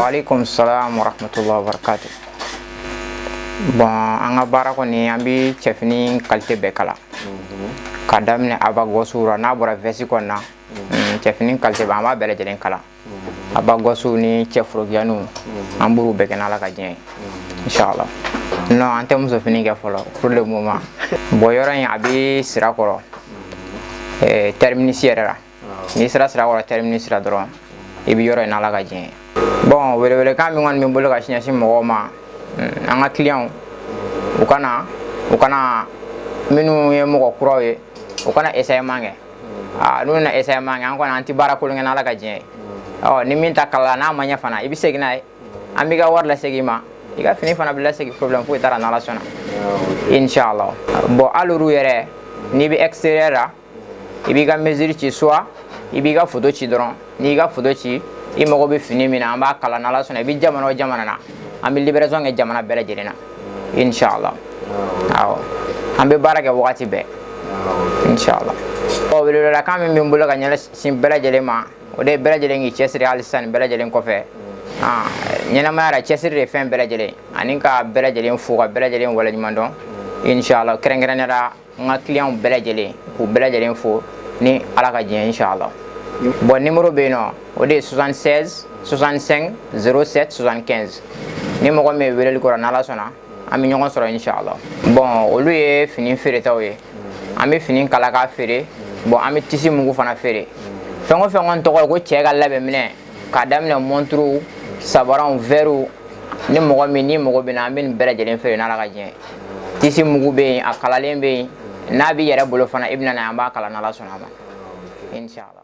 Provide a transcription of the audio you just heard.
alaikum salam wa rahmatullahi wa barakatuh bɔn an ka baara kɔni an bɛ cɛfini kalite bɛɛ kala ka daminɛ abagɔsuw la n'a bɔra vɛsi kɔni na cɛfini kalite bɛɛ an b'a bɛɛ lajɛlen kala abagɔsuw ni cɛ forokiyaniw an b'u bɛɛ kɛ n'ala ka diɲɛ ye inshallah non an tɛ muso fini kɛ fɔlɔ pour le moment bon yɔrɔ in a bɛ sirakɔrɔ eh, terminus yɛrɛ la n'i sera sirakɔrɔ terminus la dɔrɔn i bɛ yɔrɔ in n'ala ka diɲɛ ye bon welewelekan min kɔni bɛ n bolo ka ɲɛsin mɔgɔw ma mm, an ka clients u ka na u ka na minnu ye mɔgɔ kuraw ye u ka na essayement kɛ aa n'u na essayement kɛ an kɔni an tɛ baara kolon kɛ n'ala ka diɲɛ ye ni min ta kalala n'a ma ɲɛ fana i bɛ segin n'a ye an b'i ka wari lasegin i ma i ka fini fana bɛ lasegin problème foyi t'a la n'ala sɔnna inshallah bɔn hali olu yɛrɛ n'i bɛ extérieur la i b'i ka mesure ci soit i b'i ka foto ci dɔrɔn n'i ka foto ci i mago bɛ fini min na an b'a kala n'ala sɔnna i bɛ jamana o jamana na an bɛ livraison kɛ jamana bɛɛ lajɛlen na inshallah awɔ an bɛ baara kɛ wagati bɛɛ inshallah ɔ welewelekan min bɛ n bolo ka ɲɛsin bɛɛ lajɛlen ma o de ye bɛɛ lajɛlen k'i cɛsiri hali sisan bɛɛ lajɛlen kɔfɛ ɲɛnamaya la cɛsiri de ye fɛn bɛɛ lajɛlen ani ka bɛɛ lajɛlen fo ka bɛɛ lajɛlen waleɲuman dɔn inshallah kɛrɛnkɛrɛnnenya la n ka kiliyanw bɛɛ lajɛlen k'u bɛɛ lajɛlen fo ni ala ka diɲɛ inshala bɔn nimoro bɛ yen nɔ o de ye 76 65 07 75 ni mɔgɔ min ye weleli k'o rɔ n'ala sɔnna an bɛ ɲɔgɔn sɔrɔ inshala bɔn olu ye fini feeretaw ye an bɛ fini kala k'a feere bɔn an bɛ tisi mugu fana feere fɛn o fɛn kɔni tɔgɔ ye ko cɛ ka labɛn minɛn k'a daminɛ mɔnturuw sabaraw wɛriw ni mɔgɔ min n'i mago bɛ na an bɛ nin bɛɛ lajɛlen feere n'ala ka diɲɛ tisi mugu bɛ yen a kalalen bɛ yen n'a b'i yɛrɛ bolo fana i bɛ na n'a ye an b'a kala n'ala sɔnna a ma inshallah